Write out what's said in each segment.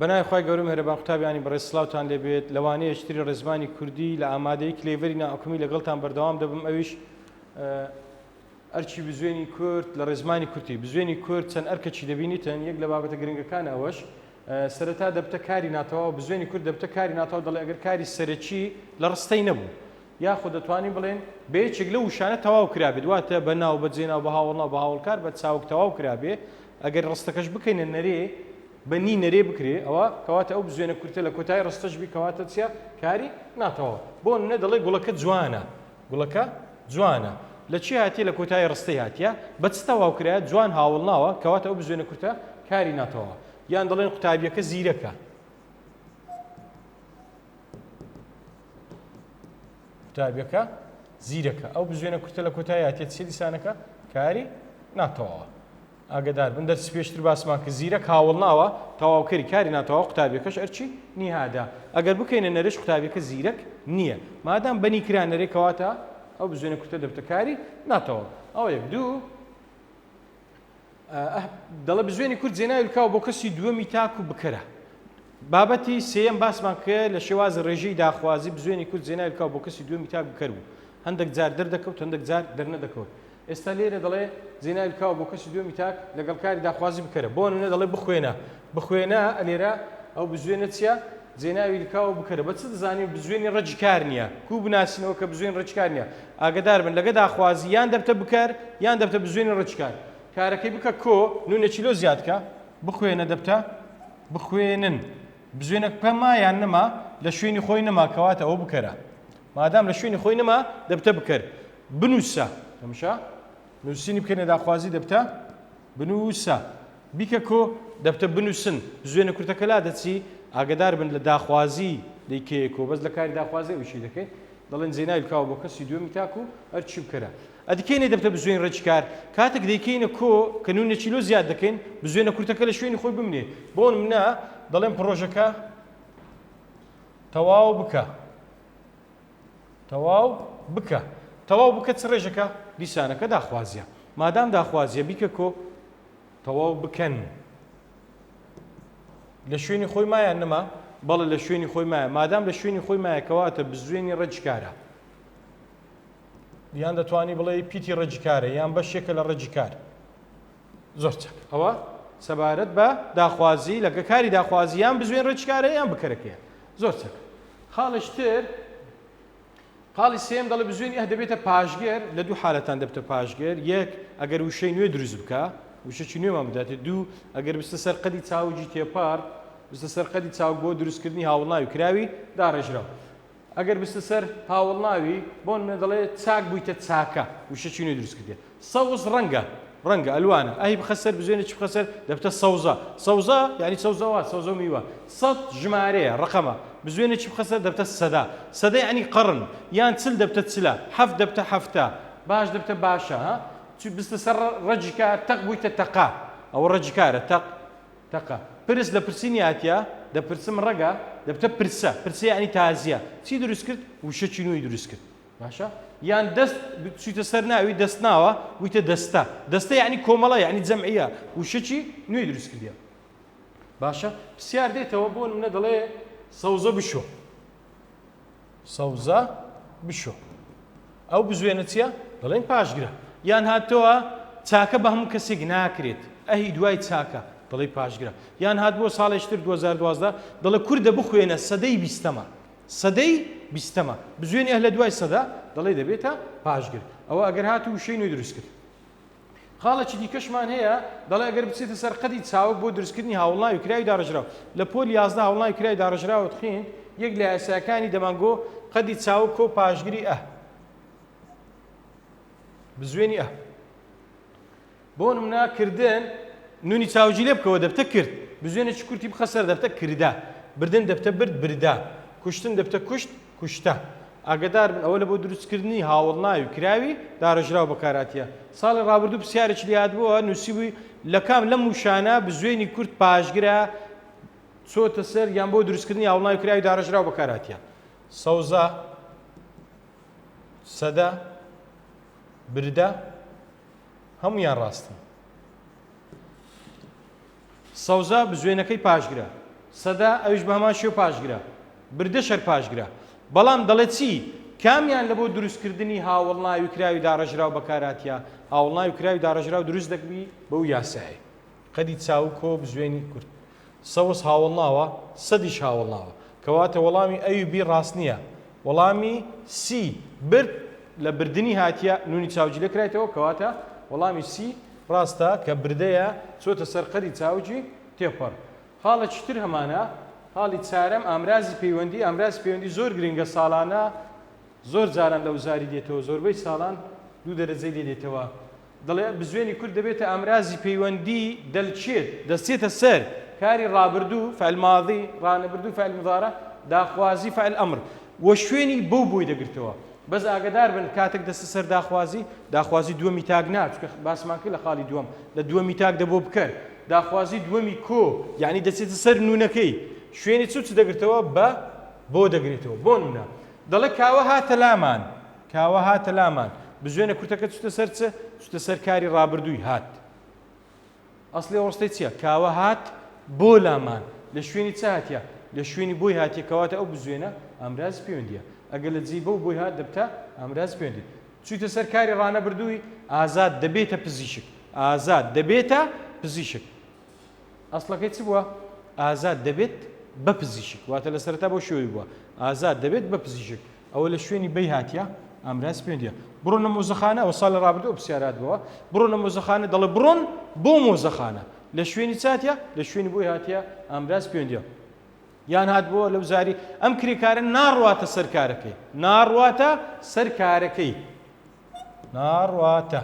بەنای خی گەورم هەربان قوتابیانی بەڕێ سلااوان لێبێت لەوانەیە شتری ڕێزمانی کوردی لە ئامادەی کلێڤری ناحکومی لەگەڵتان بەردەوام دەبم ئەویش ئەرچی بزوێنی کورد لە ڕێزمانی کورتی بزوێنی کورد چەند ئەرکەچی دەبینیتن یەک لە بابەتە گرنگەکان ئەوەش سەرەتا دەبتە کاری ناتەواو بزوێنی کورد دەبتە کاری ناتەواو دەڵێ ئەگەر کاری سەرەکی لە ڕستەی نەبوو یاخود دەتوانین بڵێن بە یەکێک لە وشانە تەواو کرابێت واتە بە ناو بە جێناو بە هاوڵنا بە هاوڵکار بە چاوک تەواو کرابێ ئەگەر ڕستەکەش بکەینە نەرێ بە نی نەرێ بکرێ ئەوە کەواتە ئەو بزوێنە کورتە لە کۆتای ڕستەش بی کەواتە چیە کاری ناتەواو بۆ نە دەڵێ گوڵەکە جوانە گوڵەکە جوانە لە چی هاتیە لە کۆتایی ڕستەی هاتیە بە چ تەواو کرایە جوان هاوڵ ناوە کەواتە ئەو بزوێنە کورتە کاری ناتەواوە یان دەڵێن قوتابیەکە زیرەکە قوتابیەکە زیرەکە ئەو بزوێنە کورتە لە کۆتایی هاتیە چی دیسانەکە کاری ناتەواوە ئاگەدار بن دەرسی پێشتر باسمان کرد زیرەک هاوەڵناوە تەواوکەری کاری ناتەواو قوتابیەکەش ئەرکی نیهادە ئەگەر بکەینە نەرێش قوتابیەکە زیرەک نیە مادام بەنی کرا نەرێ کەواتە ئەو بزوێنە کورتە دەبتە کاری ناتەواو ئەو یەک دوو دەڵە بزوێنی کورد جێناویلکاو بۆ کەسی دووەمی تاک و بکەرە بابەتی سێم باسمان کرد لە شێواز ڕێژەی داخوازی بزوێنی کورد جێناویلکاو بۆ کەسی دووەمی تاک بکەر بوو هەندێک جار دەردەکەوت هەندێک جار دەرنەدەکەوت ئێستا لێرە دەڵێ زینای بکەوە بۆ کەسی دووەمی تاک لەگەڵ کاری داخوازی بکەرە بۆ نمونە دەڵێ بخوێنە بخوێنە لێرە ئەو بزوێنە چیە زیناوی لکاوە بکەرە بە چ دەزانین بزوێنی ڕەجی کار نییە کو بناسینەوە کە بزوێن ڕچکار نییە ئاگدار بن لەگە داخوازی یان دەبتە بکەر یان دەبتە بزوێنی ڕچکار کارەکەی بکە کۆ نونە چیلۆ زیادکە بخوێنە دەبتە بخوێنن بزوێنە پەما یان نەما لە شوێنی خۆی نەما کەواتە ئەو بکەرە مادام لە شوێنی خۆی نەما دەبتە بکەر بنووسە، ئەمشە نووسینی بکەینە داخوازی دەبتە، بنووسە، بیکە کۆ دەبتە، بنووسن، بزوێنە کورتەکە لادەچی، ئاگەدار بن لە داخوازی دەی کەیە کۆ، بەس لە کاری داخوازی ئەوی چی دەکەین؟ دەڵێن زینای بکەوە بۆ کەسی دووەمی تاک و هەر چی بکەرە. ئەدی کەینە دەبتە بزوێن ڕێکی کار، کاتێک دەیکەینە کۆ کە نوونێکی لۆ زیاد دەکەین، بزوێنە کورتەکە لە شوێنی خۆی بمنێ، بۆ نمونە دەڵێم پڕۆژەکە تەواو بکە. تەواو بکە تەواو بکە چ ڕێژەکە دیسانەکە داخوازیە مادام داخوازیە بیکە کۆ تەواو بکەن لە شوێنی خۆی مایان نەما بەڵە لە شوێنی خۆی مایە مادام لە شوێنی خۆی مایەکەواتە بزوێنی ڕەجکارە یان دەتوانی بڵێ پیتی ڕەجکارە یان بەشێکە لە ڕەجکار زۆر چاک ئەوە سەبارەت بە داخوازی لە کاری داخوازی یان بزوێن ڕێچکارە یان بکەرەکەیە زۆر چاک خاڵش تر خاڵی سێم دەڵێ بزوێنی ئە دەبێتە پاشگەر لە دوو حالەتان دەبتە پاشگەر یەک ئەگەر وشەی نوێ دروست بکە وشەی نوێمان بداتێت دوو ئەگەر بستە سەر قەدی چاوجی تێپار بستە سەر قەدی چاو بۆ دروستکردنی هاوڵناوی کراوی داڕێژراو ئەگەر بچتە سەر هاوەڵناوی، بۆن مێ دەڵێ چاک بوویتە چاکە، وشەکی نوێ دروست کردیە. سەوز ڕەنگە، ڕەنگە، ئەلوانە، ئەهی بخە سەر بزوێنێ چ بخە سەر، دەبتە سەوزە، سەوزە یانی سەوزەوات، سەوزە و میوە. سەد ژمارەیە، ڕەقەمە، بزوێنێ چ بخە سەر، دەبتە سەدە، سەدە یانی قەڕن، یان چل دەبتە چلە، حەفت دەبتە حەفتە، باش دەبتە باشە. ها؟ چ بچتە سەر ڕەگی کار، تەق بوویتە تەقە، ئەوە ڕەگی کارە، تەق. تەقە پرس لە پرسی نیاتیە دە پرسم ڕەگە دە بتە پرسە پرسە یانی تازیە چی دروست کرد وشە چی نوی دروست کرد باشە یان دەست چیتە سەر ناوی دەست ناوە ویتە دەستە دەستە یعنی کۆمەڵە یعنی جەمعە وشە چی نوی دروست کردە باشە پرسیار دێتەوە بۆ منە دەڵێ سەوزە بشۆ سەوزە بشۆ ئەو بزوێنە چیە دەڵێن پاشگرە یان هاتەوە چاکە بە هەموو کەسێک ناکرێت ئەهی دوای چاکە دەڵی پاشگرە یان هات بۆ ساڵێشتر 2012 دەڵێ کوردە بخوێنە سەدەی بیستەمە سەدەی بیستەمە بزوێنێ لە دوای سەدا دەڵێ دەبێتە پاشگر ئەوە ئەگەر هات و شەی نوێ دروست کرد خاڵێکی دیکەشمان هەیە دەڵێ ئەگەر بچێتە سەر قەدی چاوگ بۆ دروستکردنی هاوڵناوی کراوی داڕێژراو لە پۆل یازدە هاوڵناوی کراوی داڕێژراوت خوێند یەک لە یاساکانی دەمانگۆ قەدی چاوگ کۆ پاشگری ئە بزوێنی ئە بۆ نمنا کردن نونی چاوجی لێ بکەوە دەبتە کرد بزوێنێکی کورتی بخە سەر دەبتە کردا بردن دەبتە برد بردا کوشتن دەبتە کوشت کوشتە. ئاگەدار بن ئەوە لە بۆ دروست کردنی هاوەڵناوی و کراوی دارەژراو بەکار هاتیە. ساڵی ڕابردوو پرسیارێکی لێ هاتبووە نووسیبووی لە کام لەم وشانە بزوێنی کورد پاشگرە چۆتە سەر یان بۆ دروست کردنی هاوڵناوی کراوی دارەژراو بەکار هاتیە؟ سەوزە، سەدە، بردە هەموویان ڕاستن. سەوزە بزوێنەکەی پاشگرە. سەدە ئەویش بە هەمان شێو پاشگرە. بردە شەر پاشگرە. بەڵام دەڵێت چی؟ کامیان لە بۆ دروستکردنی هاوەڵناوی کراوی داڕێژراو بەکارهاتیە؟ هاوەڵناوی کراوی داڕێژراو دروست دەکبی بەو یاسایەی. قەدی چاوگ کۆ بزوێنی کورت. سەوز هاوەڵناوە، سەدیش هاوەڵناوە. کەواتە وەڵامی ئەوی بی ڕاست نیە. وەڵامی سی، برد، لە بردنی هاتیە، نونی چاوجیلە کرایتەوە، کەواتە وەڵامی سی ڕاستە کە بردەیە چۆتە سەر قەری چاوجی تێپەڕ. خاڵێکی تر هەمانە، خاڵی چارەم، ئامرازی پەیوەندی، ئامرازی پەیوەندی زۆر گرنگە ساڵانە زۆر جاران لە وزاری دێتەوە، زۆربەی ساڵان دوو دەرەجەی لێ دێتەوە، دەڵێ، بزوێنی کورد دەبێتە ئامرازی پەیوەندی، دەلچێت، دەچێتە سەر، کاری ڕابردوو، فعل ماضی، ڕانەبردوو، فعل مضارع، داخوازی، فعل امر، و شوێنی بەو بۆی دەگرتەوە. بەس ئاگەدار بن کاتێک دەچتە سەر داخوازی، داخوازی دووەمی تاک نا، چونکە باسمان کرد لە خاڵی دووەم، لە دووەمی تاک دەبۆ بکەر، داخوازی دووەمی کۆ، یەعنی دەچێتە سەر نوونەکەی، شوێنی چ و چ دەگرتەوە، بە، بۆ، دەگرێتەوە. بۆ نموونە، دەڵێ، کاوە هاتە لامان. کاوە هاتە لامان. بزوێنە کورتەکە چوتە سەر چ؟ چوتە سەر کاری ڕابردووی هات. ئەسڵی ئەو ڕستەی چیە؟ کاوە هات بۆ لامان. لە شوێنی چ هاتیە؟ لە شوێنی بۆی هاتیە کەواتە ئەو بزوێنە ئامرازی پێوەندیە. ئەگەر لە جێی بۆ و بۆی هات دەبتە ئامرازی پێوەندی. چویتە سەر کاری ڕانەبردووی ئازاد دەبێتە پزیشک. ئازاد دەبێتە پزیشک. ئەسڵەکەی چ بووە؟ ئازاد دەبێت بە پزیشک. واتە لە سەرەتا بەو شێوەی بووە. ئازاد دەبێت بە پزیشک. ئەوە لە شوێنی بەی هاتیە ئامراز پێ دیە بڕۆ نە مۆزەخانە ئەو ساڵ لە ڕابردە ئەو پرسیارات بووە بڕۆ نە مۆزەخانە دەڵێ بڕۆن بۆ مۆزەخانە لە شوێنی چاتە لە شوێنی بۆی هاتیە ئامراز پێ دیە یان هات بۆ لەو زاری ئەم کرێکارە ناڕواتە سەرکارەکەی ناڕواتە سەرکارەکەی ناڕواتە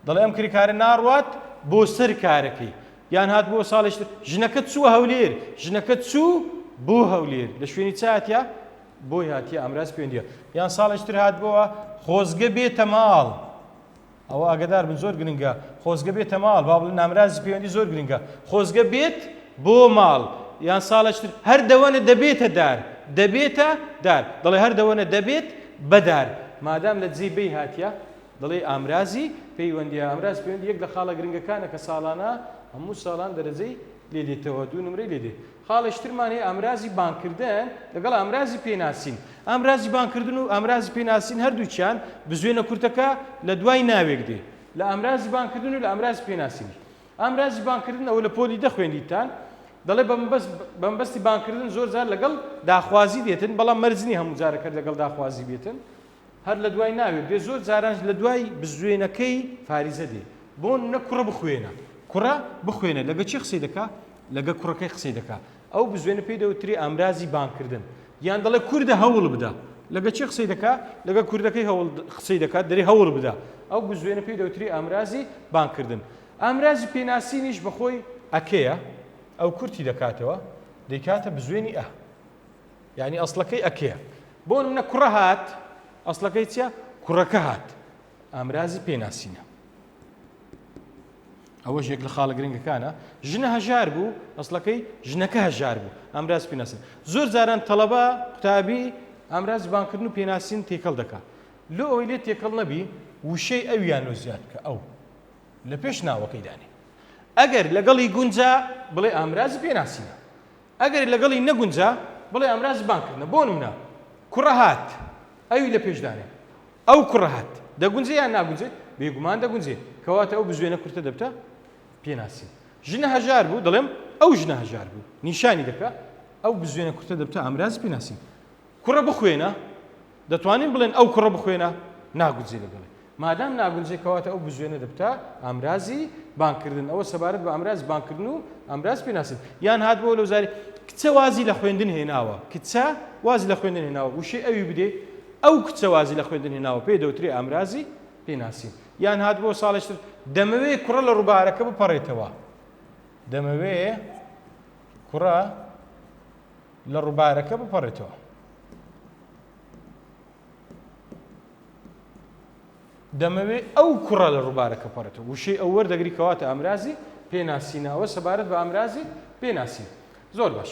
دەڵێ ئەم کرێکارە ناڕوات بۆ سەر کارەکەی یان هات بۆ ساڵش ژنەکە چووە هەولێر ژنەکە چوو بۆ هەولێر لە شوێنی چاتە بۆی هاتیە ئامراز پێوەندیە یان ساڵێک تر هات بۆە خۆزگە بێتە ماڵ ئەوە ئاگدار بن زۆر گرنگە خۆزگە بێتە ماڵ با بڵێ نامرازی پەیوەندی زۆر گرنگە خۆزگە بێت بۆ ماڵ یان ساڵێک تر هەر دەوەنە دەبێتە دار دەبێتە دار دەڵێ هەر دەوەنە دەبێت بەدار مادام لە دزی بی هاتیە دەڵێ ئامرازی پەیوەندی ئامراز پەیوەندی یەک لە خاڵە گرنگەکانە کە ساڵانە هەموو ساڵان دەرەجەی لێ دێتەوە دوو نمرەی لێ دێت خاڵێش ترمان هەیە ئامرازی بانگکردن لەگەڵ ئامرازی پێناسین. ئامرازی بانگکردن و ئامرازی پێناسین هەردووکیان بزوێنە کورتەکە لە دوای ناوێک دێ لە ئامرازی بانگکردن و لە ئامرازی پێناسینیش. ئامرازی بانگکردن ئەوە لە پۆلی دە خوێندیتتان دەڵێ بە مەبەست بە مەبەستی بانگکردن زۆر جار لەگەڵ داخوازی دێتن بەڵام مەرج نییە هەموو جارەکەت لەگەڵ داخوازی بێتن. هەر لە دوای ناوێ بێ زۆر جاران لە دوای بزوێنەکەی فاریزە دێ بۆ نە کوڕە بخوێنە کوڕە بخوێنە لەگە چێ قسەی دەکا لەگە کوڕەکەی قسەی دەکا ئەو بزوێنە پێی دەوتری ئامرازی بانکردن یان دەڵێ کوردە هەوڵ بدە لەگە چێ قسەی دەکا لەگە کوردەکەی هەوڵ قسەی دەکات دەری هەوڵ بدە ئەو بزوێنە پێی دەوتری ئامرازی بانکردن ئامرازی پێناسینیش بەخۆی ئەکەیە ئەو کورتی دەکاتەوە دەیکاتە بزوێنی ئە یانی ئەسڵەکەی ئەکەیە بۆ نمونە کوڕە هات ئەسڵەکەی چیە کوڕەکە هات ئامرازی پێناسینە ئەوەش یەک لە خاڵە گرنگەکانە ژنە هەژار بوو ئەسڵەکەی ژنەکە هەژار بوو ئامراز پێناسن زۆر جاران تەڵەبە قوتابی ئامراز بانکردن و پێناسین تێکەڵ دەکات لۆ ئەوەی لێ تێکەڵ نەبی وشەی ئەویان لۆ زیاد کە ئەو لە پێش ناوەکەی دانێ ئەگەر لەگەڵی گونجا بڵێ ئامرازی پێناسینە ئەگەر لەگەڵی نەگونجا بڵێ ئەمرا زبان کردنە بۆنمونە کوڕە هات ئەوی لە پێش دانێ ئەو کوڕە هات دەگونجێ یان ناگونجێ بێگومان دەگونجێ کەواتە ئەو بزوێنە کورتە دەبتە پێناسی ژنە هەژار بوو دەڵێم ئەو ژنە هەژار بوو نیشانی دەکا ئەو بزوێنە کورتە دەبتە ئامراز پێناسی کوڕە بخوێنە، دەتوانین بڵێن ئەو کوڕە بخوێنە ناگونجێ لەگەڵی. مادام ناگونجێ کەواتە ئەو بزوێنە دەبتە ئامرازی بانگکردن. ئەوە سەبارەت بە ئامرازی بانگکردن و ئامراز پێناسەت. یان هاتبووە لەو زاری، کچە وازی لە خوێندن هێناوە. کچە وازی لە خوێندن هێناوە. وشەی ئەوی بدەی، ئەو کچە وازی لە خوێندن هێناوە پێی دەوترێ ئامرازی پێناسین. یان هاتبووە ساڵێک تر، دەمەوێ کوڕە لە ڕووبارەکە بپەڕێتەوە. دەمەوێ کوڕە. لە ڕووبارەکە بپەڕێتەوە. دەمەوێ ئەو کوڕە لە ڕووبارەکە پەڕێتەوە وشەی ئەو وەردەگری کەواتە ئامرازی پێناسینەوە سەبارەت بە ئامرازی پێناسین زۆر باش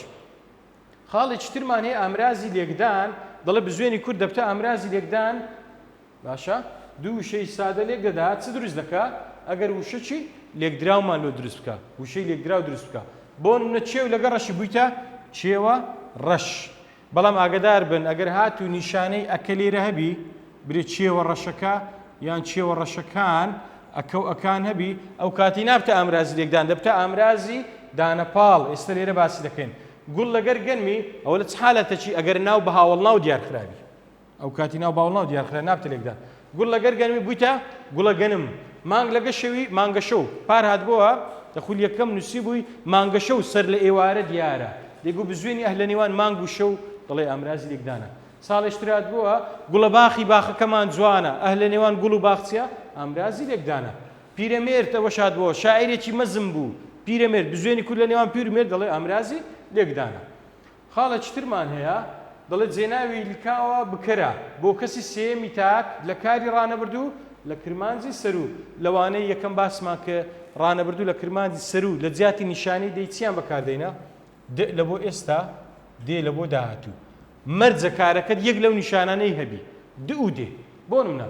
خاڵێکی ترمان هەیە ئامرازی لێکدان دەڵێ بزوێنی کورد دەبتە ئامرازی لێکدان باشە دوو وشەی سادە لێک دەدا چ دروست دەکا ئەگەر وشەچی لێکدراومان لۆ دروست بکە وشەی لێکدراو دروست بکە بۆ نە چێو لەگە ڕەشی بوویتە چێوە ڕەش بەڵام ئاگدار بن ئەگەر هات و نیشانەی ئەکە لێرە هەبی برێ چێوە ڕەشەکە یان چێوە ڕەشەکان ئەکە و ئەکان هەبی ئەو کاتی نابتە ئامرازی لێکدان دەبتە ئامرازی دانەپاڵ ئێستا لێرە باسی دەکەین گوڵ لەگەر گەنمی ئەوە لە چ حالەتەکی ئەگەر ناو بە هاوڵ ناو دیارخراوی ئەو کاتی ناو باوڵناو دیار خرا ناب تلێکدا گوڵ لەگەر گەنمی بویتە گوڵە گەنم مانگ لەگە شەوی مانگە شەو پار هاتبووە لە خولی یەکەم نووسی بووی مانگە شەو سەر لە ئێوارە دیارە دەگو بزوێنی ئەهلە نێوان مانگ و شەو دەڵێ ئامرازی لێکدانە ساڵێشترات بووە گوڵە باخی باخەکەمان جوانە ئەهلە نێوان گوڵ و باخچە ئامرازی لێکدانە پیرەمێرد ئەوە شاد بووە شاعرێکی مەزم بوو پیرەمێرد بزوێنی کورد لە نێوان پیر و مێرد دەڵێ ئامرازی لێکدانە خاڵێکی ترمان هەیە دەڵێت جێناوی لکاوە بکەرە بۆ کەسی سێیەمی تاک لە کاری ڕانەبردوو لە کرمانجی سەروو لەوانەی یەکەم باسمان کرد ڕانەبردوو لە کرمانجی سەروو لە جیاتی نیشانەی دەی چیان بەکاردێنە دئ لە بۆ ئێستا دێ لە بۆ داهاتوو مەرجە کارەکەت یەک لەو نیشانانەی هەبی دئ و دێ بۆ نمونە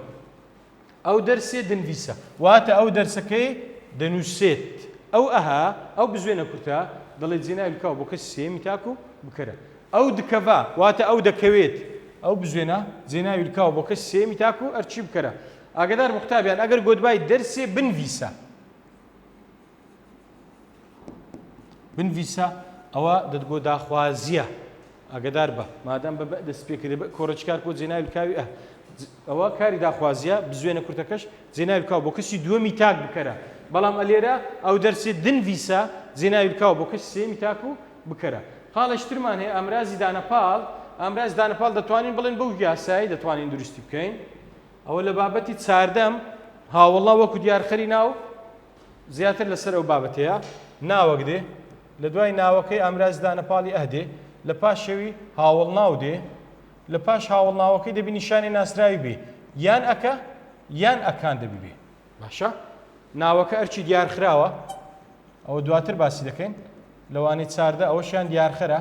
ئەو دەرسێ دنڤیسە واتە ئەو دەرسەکەی دەنووسێت ئەو ئەها ئەو بزوێنە کورتە دەڵێت جێناوی بکەوە بۆ کەسی سێیەمی تاک و بکەرە ئەو دکەڤا واتە ئەو دەکەوێت ئەو بزوێنە جێناوی بکەوە بۆ کەسی سێیەمی تاک و ئەرچی بکەرە ئاگدار بە قوتابیان ئەگەر گۆتبای دەرسێ بنڤیسە. بنڤیسە ئەوە دەتگۆ داخوازیە ئاگدار بە مادەم بە بە دەست پێکرێ بە کۆڕچکار کۆ جێنای لکاوی ئە ئەوە کاری داخوازیە بزوێنە کورتەکەش جێنای لکاو بۆ کەسی دووەمی تاک بکەرە بەڵام ئەلێرە ئەو دەرسی دنڤیسە جێنای لکاو بۆ کەس سێمی تاک و بکەرە خاڵشترمان هەیە ئامرازی دانەپاڵ ئامراز دانەپاڵ دەتوانین بڵێن بەو یاسایی دەتوانین دروستی بکەین ئەوە لە بابەتی چاردەم هاوڵا وەکو دیارخەری ناو زیاتر لەسەر ئەو بابەتەیە ناوەک دێ، لە دوای ناوەکەی ئامراز دانە پاڵی ئه دێ، لە پاشەوی هاوەڵناو دێ، لە پاش هاوەڵناوەکەی دەبی نیشانی ناسراوی بێ، یان ئەکە یان ئەکان دەبی بێ. باشە ناوەکە ئەرکی دیارخراوە، ئەوە دواتر باسی دەکەین، لەوانەی چاردە ئەوەشیان دیارخەرە،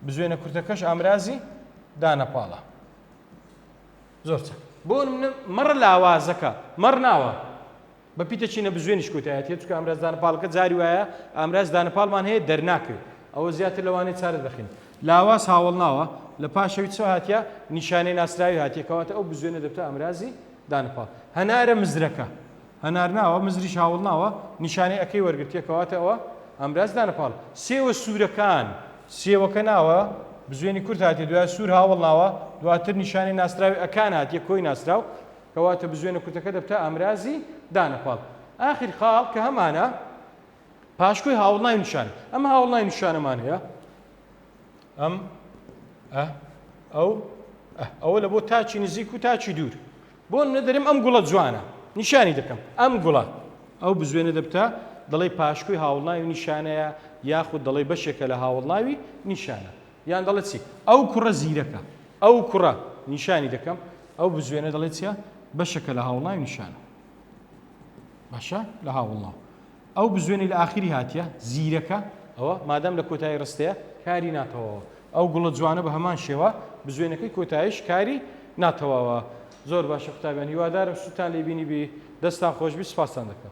بزوێنە کورتەکەش ئامرازی دانە پاڵە. زۆر چاک بۆ نمونە مەڕ لاوازەکە مەڕ ناوە بە پیتە چینە بزوێنیش کۆتایەتی چکە ئەمراز دانەپاڵەکە جاری وایە ئامراز دانەپاڵمان هەیە دەرناکەوێت ئەوە زیاتر لەوانەیە چارە دەخین لاواز هاوڵ ناوە لە پاشەوی چ هااتە نیشانەی ناسراوی هاتیەکەواتە ئەو بزوێنە دەبتە ئامرازی دانەپاڵ هەنارە مزرەکە هەنار ناوە مزریش هاوڵ ناوە نیشانەی ەکەی وەرگرتیە کەواتە ئەوە ئامراز دانە پاڵ سێوە سورەکان سێوەکە ناوە بزوێنی کورت هاتیە دوای سور هاوڵ ناوە دواتر نیشانەی ناسراوی ەکان هاتیە کۆی ناسراو کەواتە بزوێنە کورتەکە دەبتە ئامرازی دانە پاڵ ئاخر خاڵ کە هەمانە پاشکۆی هاوڵ ناوی نیشان ئەم هاوڵ ناوی نیشانەمان هەیە ئەم ئە ئەو ئەوە لە بۆ تاچی نزیک و تاچی دوور بۆ منە دەرێم ئەم گوڵە جوانە نیشانی دەکەم ئەم گوڵە ئەو بزوێنە دەبتە دەڵی پاشکوی هاوڵناوی نیشانەیە یاخود دەڵی بەشێکە لە هاوڵناوی نیشانە یان دەڵێت چی ئەو کوڕە زیرەکە ئەو کوڕە نیشانی دەکەم ئەو بزوێنە دەڵێت چە بەشەکە لە هاوڵناوی نیشانە باشە لە هاوڵناو ئەو بزوێنەی لە ئاخری هاتیە زیرەکە ئەوە مادام لە کۆتایی ڕستەیە کاری ناتەواوە ئەو گوڵە جوانە بە هەمان شێوە بزوێنەکەی کۆتایش کاری ناتەواوە زۆر باشە قوتابیان هیوادارم سووتان لێ بینی بی دەستان خۆشببی سپاستان دەکەم